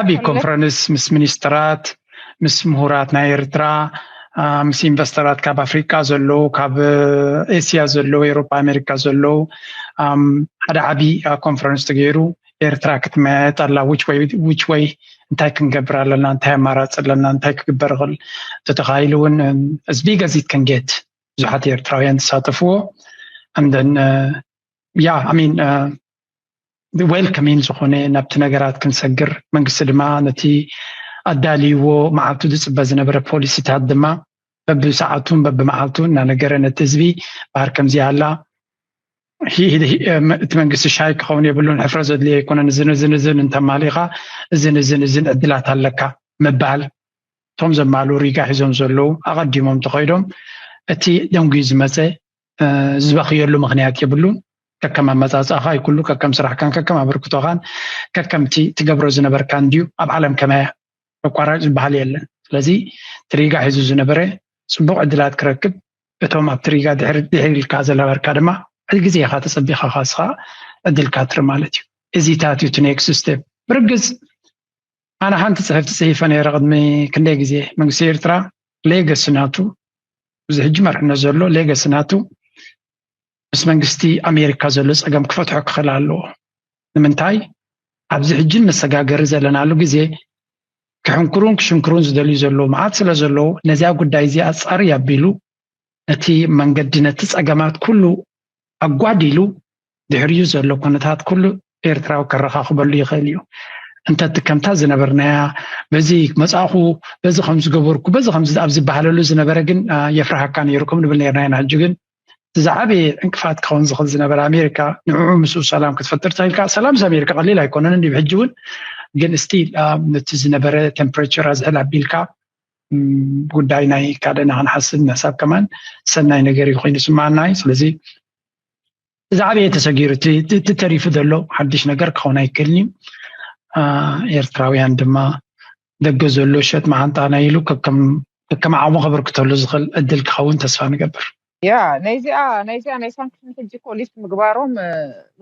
ዓብዪ ኮንፈረንስ ምስ ሚኒስትራት ምስ ምሁራት ናይ ኤርትራ ምስ ኢንቨስተራት ካብ ኣፍሪቃ ዘለዉ ካብ ኤስያ ዘለዉ ኤሮፓ ኣሜሪካ ዘለዉ ሓደ ዓብዪ ኮንፈረንስ ተገይሩ ኤርትራ ክትመያየጥ ኣላ ውጭ ወይ ውጭ ወይ እንታይ ክንገብር ኣለና እንታይ ኣማራፂ ኣለና እንታይ ክግበር ይኽእል ተተኻኢሉ እውን ህዝቢ ገዚት ከንጌት ብዙሓት ኤርትራውያን ተሳተፍዎ ኣንደን ያ ኣሚን ዌልከሚን ዝኾነ ናብቲ ነገራት ክንሰግር መንግስቲ ድማ ነቲ ኣዳልይዎ መዓልቱ ዝፅበ ዝነበረ ፖሊሲታት ድማ በብሰዓቱን በብመዓልቱን እናነገረ ነቲ ህዝቢ ባህር ከምዚ ኣላ እቲ መንግስቲ ሻይ ክኸውን የብሉን ሕፍረ ዘድልዮ ኣይኮነን እዝን እዝን እዝን እንተማሊኻ እዝን እዝን እዝን ዕድላት ኣለካ ምባል እቶም ዘማሉ ሪጋ ሒዞም ዘለዉ ኣቐዲሞም ተኸይዶም እቲ ደንጉዩ ዝመፀ ዝበኽየሉ ምክንያት የብሉን ከከም ኣመፃፅኣኻ እዩ ኩሉ ከከም ስራሕካን ከከም ኣበርክቶኻን ከከምቲ ትገብሮ ዝነበርካ እንድዩ ኣብ ዓለም ከመያ ተቋራጭ ዝበሃል የለን ስለዚ ትሪጋ ሒዙ ዝነበረ ፅቡቅ ዕድላት ክረክብ እቶም ኣብ ትሪጋ ድሕር ድሕር ኢልካ ዘለበርካ ድማ ሕዚ ግዜ ኢኻ ተፀቢኻ ካስኻ ዕድልካ ትር ማለት እዩ እዚታት እዩ ኔክስት ስቴፕ ብርግፅ ኣነ ሓንቲ ፅሕፍቲ ፅሒፈ ነይረ ቅድሚ ክንደይ ግዜ መንግስቲ ኤርትራ ሌገሲ ናቱ እዚ ሕጂ መርሕነት ዘሎ ሌገሲ ናቱ ምስ መንግስቲ ኣሜሪካ ዘሎ ፀገም ክፈትሖ ክኽእል ኣለዎ ንምንታይ ኣብዚ ሕጂ መሰጋገሪ ዘለናሉ ግዜ ክሕንክሩን ክሽንክሩን ዝደልዩ ዘለዉ መዓት ስለ ዘለዉ ነዚያ ጉዳይ እዚ ኣፃሪ ኣቢሉ ነቲ መንገዲ ነቲ ፀገማት ኩሉ ኣጓዲሉ ድሕሪኡ ዘሎ ኩነታት ኩሉ ኤርትራዊ ከረኻኽበሉ ይኽእል እዩ እንተቲ ከምታ ዝነበርናያ በዚ መፃእኹ በዚ ከም ዝገበርኩ በዚ ከም ኣብ ዝበሃለሉ ዝነበረ ግን የፍርሃካ ነይሩ ከም ንብል ነርና ኢና ሕጂ ግን ዝዓበየ ዕንቅፋት ክኸውን ዝኽእል ዝነበረ ኣሜሪካ ንዕዑ ምስኡ ሰላም ክትፈጥር ተልካ ሰላም ምስ ኣሜሪካ ቀሊል ኣይኮነንን እዩ ሕጂ እውን ግን እስቲ ነቲ ዝነበረ ቴምፕሬቸር ኣዝሕል ኣቢልካ ጉዳይ ናይ ካልእና ክንሓስብ ምሕሳብ ከማን ሰናይ ነገር እዩ ኮይኑ ስማዓና እዩ ስለዚ ዝዓበየ ተሰጊሩ እቲ ተሪፉ ዘሎ ሓድሽ ነገር ክኸውን ኣይክእልን እዩ ኤርትራውያን ድማ ደገ ዘሎ ሸጥ መዓንጣ ናይ ኢሉ ከከም ዓቕሙ ከበርክተሉ ዝኽእል ዕድል ክኸውን ተስፋ ንገብር ያ ናይዚኣ ናይዚኣ ናይ ሳንክሽን ሕጂ እኮ ሊፍት ምግባሮም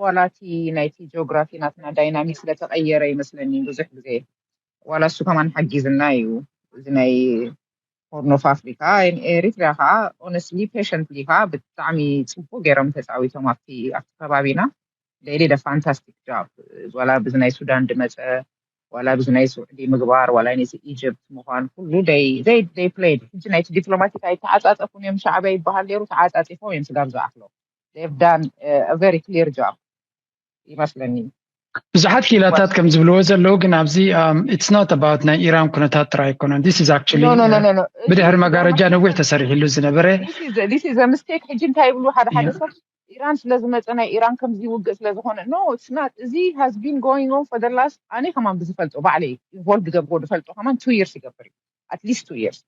ዋላ እቲ ናይቲ ጂኦግራፊ ናትና ዳይናሚክ ስለተቐየረ ይመስለኒ ብዙሕ ግዜ ዋላ እሱ ከማን ሓጊዝና እዩ እዚ ናይ ሆርን ኦፍ ኣፍሪካ ኤሪትሪያ ከዓ ኦነስትሊ ፔሸንትሊ ከዓ ብጣዕሚ ፅቡቅ ገይሮም ተፃዊቶም ኣብቲ ኣብቲ ከባቢና ዴይሊ ደ ፋንታስቲክ ጃብ ዋላ ብዚ ናይ ሱዳን ድመፀ ዋላ ብዚ ናይ ስዑዲ ምግባር ዋላ ነዚ ኢጅፕት ምኳን ኩሉ ደይ ደይ ደይ ፕሌይድ ሕጂ ናይቲ ዲፕሎማቲክ ኣይተዓፃፀፉን እዮም ሻዕቢያ ይበሃል ነይሩ ተዓፃፂፎም እዮም ስጋብ ዝኣክሎ they've done a very clear job ይመስለኒ። ብዙሓት ክኢላታት ከም ዝብልዎ ዘለዉ ግን ኣብዚ ኢትስ ኖት ኣባውት ናይ ኢራን ኩነታት ጥራይ ኣይኮነን ዲስ ኢዝ ኣክቹሊ ኖ ኖ ኖ ኖ ኖ ብድሕሪ መጋረጃ ነዊሕ ተሰሪሕሉ ዝነበረ this is this is a mistake ሕጂ እንታይ ይብሉ ሓደ ሓደ ሰብ ኢራን ስለ ዝመጸ ናይ ኢራን ከምዚ ውግእ ስለ ዝኾነ ኖ ኢትስ ናት እዚ has been going on for the last ኣነ ከማን ብዝፈልጦ ባዕለይ ኢንቮልቭ ዝገብሮ ዝፈልጦ ከማን two years ይገብር እዩ at least two years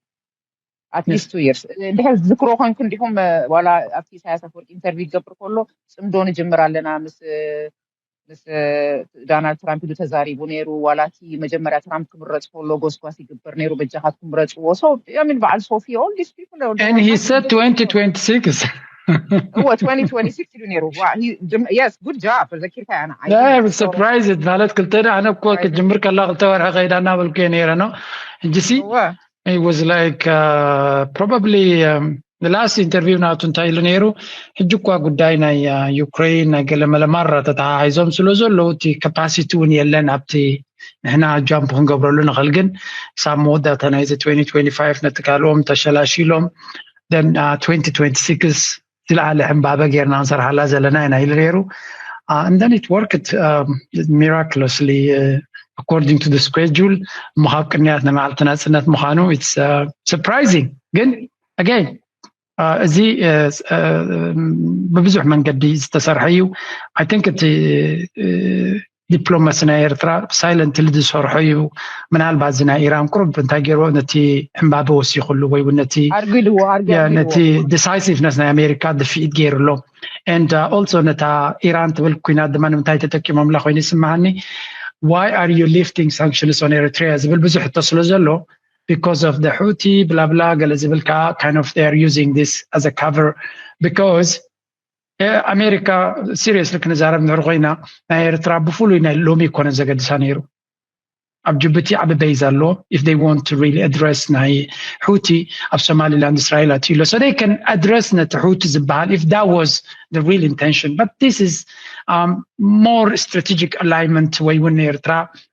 ኣትሊስት ቱ ይርስ ድሕር ዝክሮ ኮንኩም ዲኹም ዋላ ኣብቲ ኢሳያስ ኣፈወርቂ ኢንተርቪው ይገብር ከሎ ፅምዶ ንጅምር ኣለና ምስ ምስ ዳናልድ ትራምፕ ኢሉ ተዛሪቡ ነይሩ ዋላ እቲ መጀመርያ ትራምፕ ክምረፅ ከሎ ጎስጓስ ይግበር ነይሩ በጃኻትኩም ምረፅዎ ሶ ሚን በዓል ሶፊ ኦል ዲስ ፒፕል and he said 2026 እወ 2026 ኢሉ ነይሩ የስ ጉድ ጃብ ዘኪርካ ኣነ ሰርፕራይዝ ማለት ክልተ ኣነ እኮ ክትጅምር ከላ ክልተ ወርሒ ከይዳ እናበልኩ እየ ነይረ ነው እንጂ ሲ it was like uh, probably um, the last interview ናቱ እንታይ ኢሉ ነይሩ ሕጂ እኳ ጉዳይ ናይ ዩክሬን ናይ ገለመለ ማራ ተተሓሒዞም ስለ ዘለዉ እቲ ካፓሲቲ እውን የለን ኣብቲ ንሕና ጃምፕ ክንገብረሉ ንኽእል ግን ሳብ መወዳእታ ናይዚ 2025 ነቲ ካልኦም ተሸላሽሎም then uh, 2026 ዝለዓለ ዕምባበ ጌርና ንሰርሓላ ዘለና ኢና ኢሉ ነይሩ እንደን ኢት ወርክት ሚራክለስሊ ኣኮርዲንግ ቱ ስኬጁል እሞ ካብ ቅንያት ናይ መዓልቲ ናፅነት ምዃኑ ኢትስ ሰርፕራይዚንግ uh, ግን ኣገይን uh, እዚ uh, ብብዙሕ መንገዲ ዝተሰርሐ እዩ ኣይ ቲንክ እቲ ዲፕሎማሲ ናይ ኤርትራ ሳይለንትሊ ዝሰርሖ እዩ ምናልባት እዚ ናይ ኢራን ቁርብ እንታይ ገይርዎ ነቲ ዕምባበ ወሲኽሉ ወይ እውን ነቲ ኣርጊድዎ ኣርጊድዎ ነቲ ዲሳይሲቭነስ ናይ ኣሜሪካ ድፍኢት ገይርሎ ኤንድ ኦልሶ ነታ ኢራን ትብል ኩናት ድማ ንምንታይ ተጠቂሞምላ ኮይኑ ይስምዓኒ ዋይ ኣር ዩ ሊፍቲንግ ሳንክሽንስ ኦን ኤሪትሪያ ዝብል ብዙሕ ሕቶ ስለ ዘሎ because of the Houthi, blah blah, ገለ ዝብል ከዓ kind of they are using this as a cover because ኣሜሪካ ሲሪየስሊ ክንዛረብ ንድሕር ኮይና ናይ ኤርትራ ብፍሉይ ናይ ሎሚ ኮነ ዘገድሳ ነይሩ ኣብ ጅቡቲ ዓብ በይዝ ኣሎ ኢፍ ይ ዋን ሪ ኣድረስ ናይ ሑቲ ኣብ ሶማሊላንድ እስራኤል ኣትዩ ኣሎ ሶደይ ከን ኣድረስ ነቲ ሑቲ ዝበሃል ኢፍ ዳ ዋዝ ሪ ኢንቴንሽን በት ስ ሞር ስትራቴጂክ ኣላይመንት ወይ እውን ንኤርትራ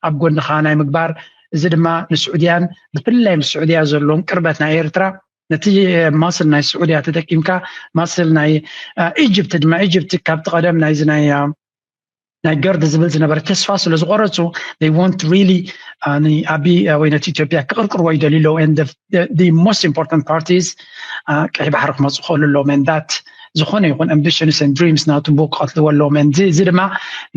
ኣብ ጎንኻ ናይ ምግባር እዚ ድማ ንስዑድያን ብፍላይ ምስ ስዑድያ ዘለዎም ቅርበት ናይ ኤርትራ ነቲ ማስል ናይ ስዑድያ ተጠቂምካ ማስል ናይ ኢጅፕቲ ድማ ኢጅፕቲ ካብቲ ቀደም ናይዚ ናይ ናይ ገርድ ዝብል ዝነበረ ተስፋ ስለ ዝቆረፁ they want really ንኣቢ ወይ ነቲ ኢትዮጵያ ክቅርቅርዎ ይደልዩ ኣለዉ and the, the, the most important part is ቀይ ባሕሪ ክመፁ ክእሉ ኣለዎም and that ዝኾነ ይኹን ኣምቢሽንስ ን ድሪምስ ናቱ ቦ ክቐትልዎ ኣለዎም እዚ ድማ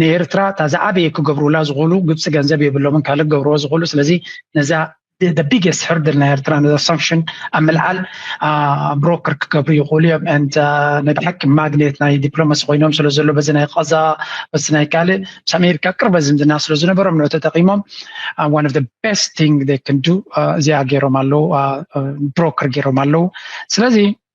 ንኤርትራ እታ ዝዓበየ ክገብሩላ ዝኽእሉ ግብፂ ገንዘብ የብሎምን ካልእ ክገብርዎ ዝኽእሉ ስለዚ ነዛ the biggest hurdle ናይ ኤርትራ ነዛ ሳንክሽን ኣብ ምልዓል ብሮከር ክገብሩ ይኽእሉ እዮም ንድ ናይ ብሓቂ ማግኔት ናይ ዲፕሎማሲ ኮይኖም ስለ ዘሎ በዚ ናይ ቐዛ በዚ ናይ ካልእ ምስ ኣሜሪካ ቅርበ ዝምድና ስለ ዝነበሮም ንዑ ተጠቂሞም ዋን ኦፍ ቤስት ቲንግ ክንዱ እዚኣ ገይሮም ኣለዉ ብሮከር ገይሮም ኣለዉ ስለዚ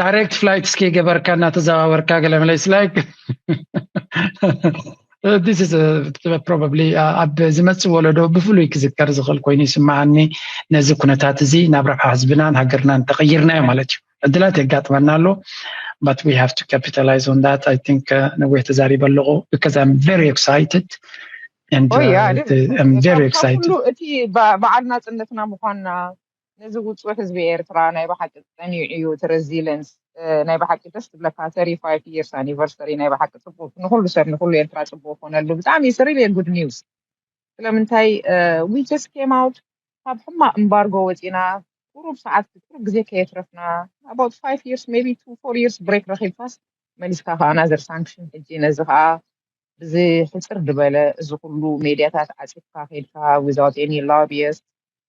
ዳይሬክት ፍላይት እስኪ ገበርካ እናተዘዋወርካ ገለ መለይ ስላይክ ዲስ ኢዝ ፕሮባብሊ ኣብ ዝመፅእ ወለዶ ብፍሉይ ክዝከር ዝኽእል ኮይኑ ይስምዓኒ ነዚ ኩነታት እዚ ናብ ረብሓ ህዝብናን ሃገርናን ተቐይርናዮ ማለት እዩ ዕድላት የጋጥመና ኣሎ but we have to capitalize on that i think uh, ነዊሕ ተዛሪበ ኣለኹ because i'm very excited and oh, yeah, uh, i'm very excited እቲ በዓል ናፅነትና ምኳንና ነዚ ውጹዕ ህዝቢ ኤርትራ ናይ ብሓቂ ጸኒዑ እዩ እቲ ረዚለንስ ናይ ብሓቂ ደስ ትብለካ ተሪ ፋይፍ ይርስ ኣኒቨርሰሪ ናይ ብሓቂ ጽቡቅ ንኩሉ ሰብ ንኩሉ ኤርትራ ጽቡቅ ኮነሉ ብጣዕሚ ስሪል እየ ጉድ ኒውስ ስለምንታይ ዊ ጀስት ኬም ኣውት ካብ ሕማቅ እምባርጎ ወጺና ቁሩብ ሰዓት ቁሩብ ግዜ ከየትረፍና ኣባውት ፋይፍ ይርስ ሜቢ ቱ ፎር ይርስ ብሬክ ረኺብካስ መሊስካ ከዓ ናዘር ሳንክሽን ሕጂ ነዚ ከዓ ብዚ ሕጽር ድበለ እዚ ኩሉ ሜድያታት ዓጺፍካ ከድካ ዊዛውት ኤኒ ሎቢየስት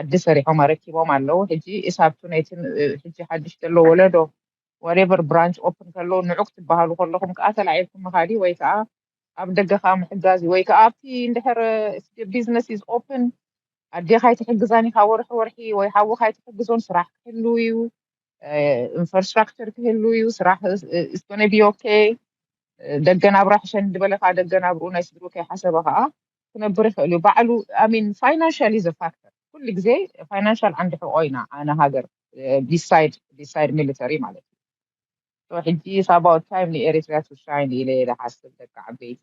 ዓዲ ሰሪሖም ኣረኪቦም ኣለዉ ሕጂ ኢሳብቱ ነቲ ሕጂ ሓድሽ ዘሎ ወለዶ ዋሬቨር ብራንች ኦፕን ከሎ ንዑ ክትበሃሉ ከለኹም ከኣ ተላዒልኩም ምኻድ እዩ ወይ ከኣ ኣብ ደገ ከኣ ምሕጋዝ እዩ ወይ ከኣ ኣብቲ እንድሕር ቢዝነስ ኢዝ ኦፕን ኣዴኻ ኣይትሕግዛን ኢኻ ወርሒ ወርሒ ወይ ሓውኻ ኣይትሕግዞን ስራሕ ክህሉ እዩ ኢንፍራስትራክቸር ክህሉ እዩ ስራሕ ኢስ ጎነ ቢ ኦኬ ደገ ናብራ ሕሸኒ ዝበለ ከኣ ደገ ናብርኡ ናይ ስድርኡ ከይሓሰበ ከኣ ክነብር ይክእል እዩ ባዕሉ ኣሚን ፋይናንሻል ኢዘ ፋክተር ኩሉ ግዜ ፋይናንሻል ዓንዲ ሕቆ ኢና ኣነ ሃገር ቢሳይድ ቢሳይድ ሚሊተሪ ማለት እዩ So ሕጂ is about time ንኤሪትሪያ to shine ኢለ እየ ዝሓስብ ደቂ ዓበይቲ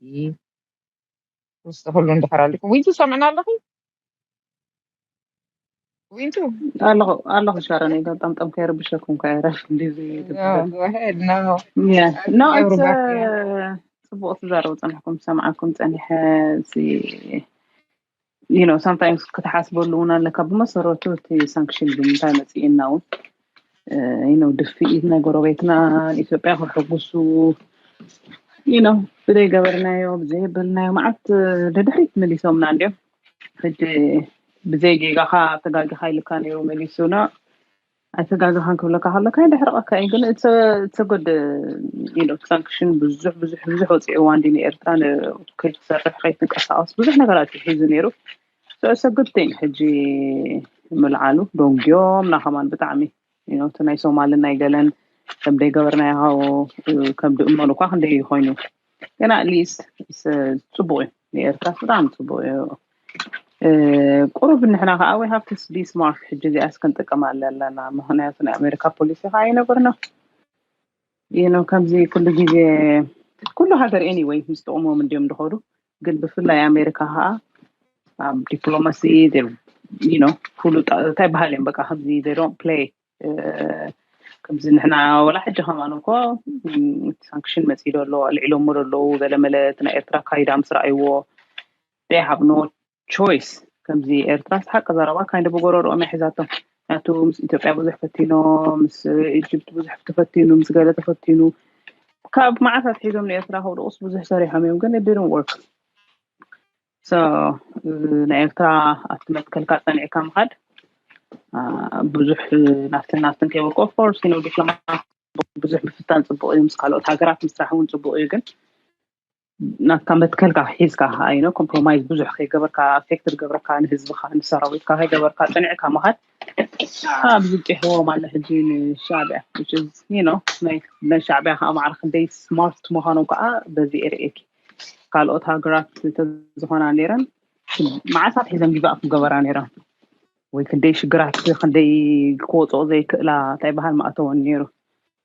ውስጥ ሁሉ እንድሕር ኣልኩም ዊንቱ ሰምዕና ኣለኺ ዊንቱ ኣለኹ ኣለኹ ሻረን ኢለ ጠምጠም ከይርብሸኩም ከ ረፍ እንዲዚ ፅቡቅ ትዛረቡ ፀኒሕኩም ሰምዓኩም ፀኒሐ ዩ ነው ሳምታይምስ ክትሓስበሉ እውን ኣለካ ብመሰረቱ እቲ ሳንክሽን ብምንታይ መፅእና እውን ዩ ነው ድፍኢት ናይ ጎረቤትና ኢትዮጵያ ክሕጉሱ ዩ ነው ብዘይገበርናዮ ብዘይበልናዮ መዓት ንድሕሪት መሊሶምና እንዲዮም ሕጂ ብዘይ ጌጋኻ ተጋጊኻ ኢልካ ነይሩ መሊሱና ኣይተጋግኻን ክብለካ ከሎ ካይ ደሕርቐካ እዩ ግን እተጎድ ኢሎ ሳንክሽን ብዙሕ ብዙሕ ብዙሕ ወፂዕዋ እንዲ ንኤርትራ ከይትሰርሕ ከይትንቀሳቀስ ብዙሕ ነገራት እዩ ሒዙ ነይሩ ሰሰግድቲን ሕጂ ምልዓሉ ደንጊዮም ናኸማን ብጣዕሚ እቲ ናይ ሶማልን ናይ ገለን ከም ደይገበርናዮ ሃው ከም ድእመሉ እኳ ክንደይ እዩ ኮይኑ ግን ኣትሊስት ፅቡቅ እዩ ንኤርትራ ብጣዕሚ ፅቡቅ እዩ ቁሩብ ንሕና ከዓ ዊ ሃቭ ቱ ቢ ስማርት ሕጂ እዚኣስ ክንጥቀም ኣለና ምክንያቱ ናይ ኣሜሪካ ፖሊሲ ከዓ ኣይነበርና ይህ ነው ከምዚ ኩሉ ጊዜ ኩሉ ሃገር ኤኒወይ ምስ ጥቕሞም እንዲዮም ዝኸዱ ግን ብፍላይ ኣሜሪካ ከዓ ኣብ ዲፕሎማሲ ነው ኩሉ እንታይ በሃል እዮም በቃ ከምዚ ዶን ፕሌይ ከምዚ ንሕና ወላ ሕጂ ከማን እኮ ሳንክሽን መፂዶ ኣሎ ኣልዒሎሞ ዘለዉ ገለመለ እቲ ናይ ኤርትራ ካይዳ ምስ ረኣይዎ ሃብ ኖ ቾይስ ከምዚ ኤርትራስ ሓቂ ዘረባ ካይንዲ ብጎረርኦም እያ ሒዛቶ ናቱ ምስ ኢትዮጵያ ብዙሕ ፈቲኖ ምስ ኢጅፕት ብዙሕ ተፈቲኑ ምስ ገለ ተፈቲኑ ካብ መዓት ኣትሒዞም ንኤርትራ ከውድቑስ ብዙሕ ሰሪሖም እዮም ግን ድርን ወርክ ሶ ናይ ኤርትራ ኣብቲ መትከልካ ጸኒዕካ ምኻድ ብዙሕ ናፍትን ናፍትን ከይበልኩ ኦፍኮርስ ዩ ዲፕሎማ ብዙሕ ምፍታን ጽቡቕ እዩ ምስ ካልኦት ሃገራት ምስራሕ እውን ጽቡቕ እዩ ግን ናትካ መትከልካ ሒዝካ ከዓ ዩ ኮምፕሮማይዝ ብዙሕ ከይገበርካ ኣፌክት ዝገብረካ ንህዝብካ ንሰራዊትካ ከይገበርካ ፅኒዕካ ምካድ ኣብዚ ጢሕዎ ማለ ሕጂ ንሻዕቢያ ናይ ሻዕቢያ ከዓ ማዕረ ክንደይ ስማርት ምኳኖም ከዓ በዚ ኤርእኪ ካልኦት ሃገራት ተዝኮና ነይረን መዓልታት ሒዘን ጊቫ ክገበራ ነይረን ወይ ክንደይ ሽግራት ክንደይ ክወፅኦ ዘይክእላ እንታይ በሃል ማእተወን ነይሩ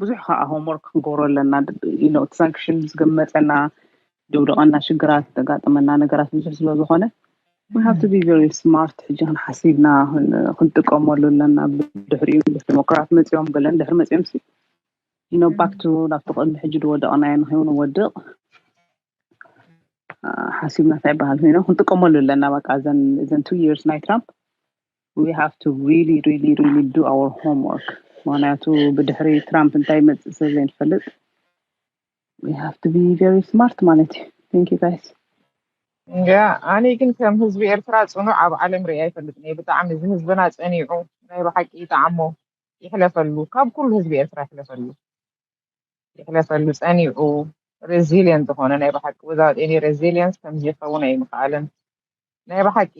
ብዙሕ ከኣ ሆምወርክ ክንገብሮ ኣለና ሳንክሽን ምስ ገመፀና ደውደቐና ሽግራት ዘጋጥመና ነገራት ብዙሕ ስለ ዝኾነ ሃብቲ ቢቨሪ ስማርት ሕጂ ክንሓሲብና ክንጥቀመሉ ኣለና ብድሕሪኡ ዲሞክራት መፅኦም ገለን ድሕሪ መፅኦም ሲ ኢኖ ባክቱ ናብቲ ቅድሚ ሕጂ ዝወደቕናዮ ንኸይውን ወድቕ ሓሲብና እንታይ ይበሃል ኮይኖ ክንጥቀመሉ ኣለና በቃ እዘን ቱ የርስ ናይ ትራምፕ we have to really really really do our homework ምክንያቱ ብድሕሪ ትራምፕ እንታይ ይመፅእ ስለ ዘይንፈልጥ we have to be very smart ማለት እዩ thank you guys እንጃ ኣነ ግን ከም ህዝቢ ኤርትራ ጽኑዕ ኣብ ዓለም ርኣ ኣይፈልጥን እየ ብጣዕሚ እዚ ህዝብና ጸኒዑ ናይ ብሓቂ ይጠዓሞ ይሕለፈሉ ካብ ኩሉ ህዝቢ ኤርትራ ይሕለፈሉ የሕለፈሉ ጸኒዑ ረዚልየንት ዝኾነ ናይ ብሓቂ without any resilience ከምዚ ይኸውን ኣይምኸኣለን ናይ ብሓቂ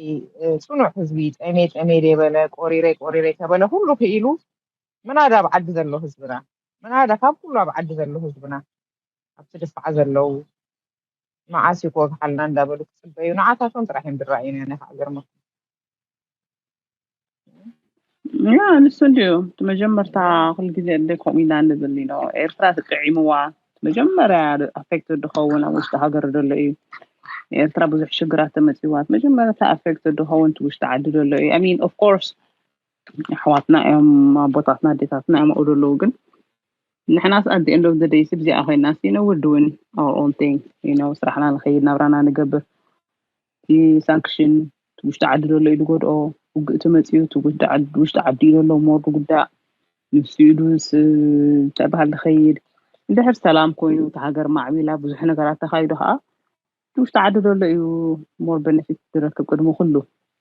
ጽኑዕ ህዝቢ ጠሜ ጠሜ ደበለ ቆሪሬ ቆሪሬ ከበለ ኩሉ ክኢሉ ምናዳ ኣብ ዓዲ ዘሎ ህዝብና ምናዳ ካብ ኩሉ ኣብ ዓዲ ዘሎ ህዝብና ኣብቲ ድፋዕ ዘለዉ መዓስ እዩ ክወግሓልና እንዳበሉ ክጽበዩ ንዓታቶም ጥራሕ እዮም ድራእዩና ናይ ሃገር ያ ንሱ እንድዩ እቲ መጀመርታ ኩሉ ግዜ እንደ ከምኡ ኢና ንብል ዩ ኖ ኤርትራ ተጠዒምዋ እቲ መጀመርያ ኣፌክት ዝኸውን ኣብ ውሽጢ ሃገር ዘሎ እዩ ኤርትራ ብዙሕ ሽግራት ተመፂዋ እቲ መጀመርታ ኣፌክት ዝኸውን እቲ ውሽጢ ዓዲ ዘሎ እዩ ኣይ ሚን ኦፍ ኮርስ ኣሕዋትና እዮም ኣቦታትና ኣዴታትና እዮም ኣብኡ ዘለዉ ግን ንሕናስ ኣት ኤንድ ኦፍ ዘ ደይስ ብዚኣ ኮይናስ ዩ ኖ ውር ዱዊን ኣወር ኦን ቲንግ ዩ ኖ ስራሕና ንኸይድ ናብራና ንገብር እቲ ሳንክሽን እቲ ውሽጢ ዓዲ ዘሎ ኢዩ ዝጎድኦ ውግእ ተመጺኡ እቲ ውሽጢ ዓዲ ኢዩ ዘሎ እሞ ዝጉዳእ ንሱ ኢዩ ድሁስ ተባሂሉ ዝኸይድ እንድሕር ሰላም ኮይኑ እቲ ሃገር ማዕቢላ ብዙሕ ነገራት ተኻይዱ ከዓ እቲ ውሽጢ ዓዲ ዘሎ ኢዩ ሞር በነፊት ዝረክብ ቅድሚ ኩሉ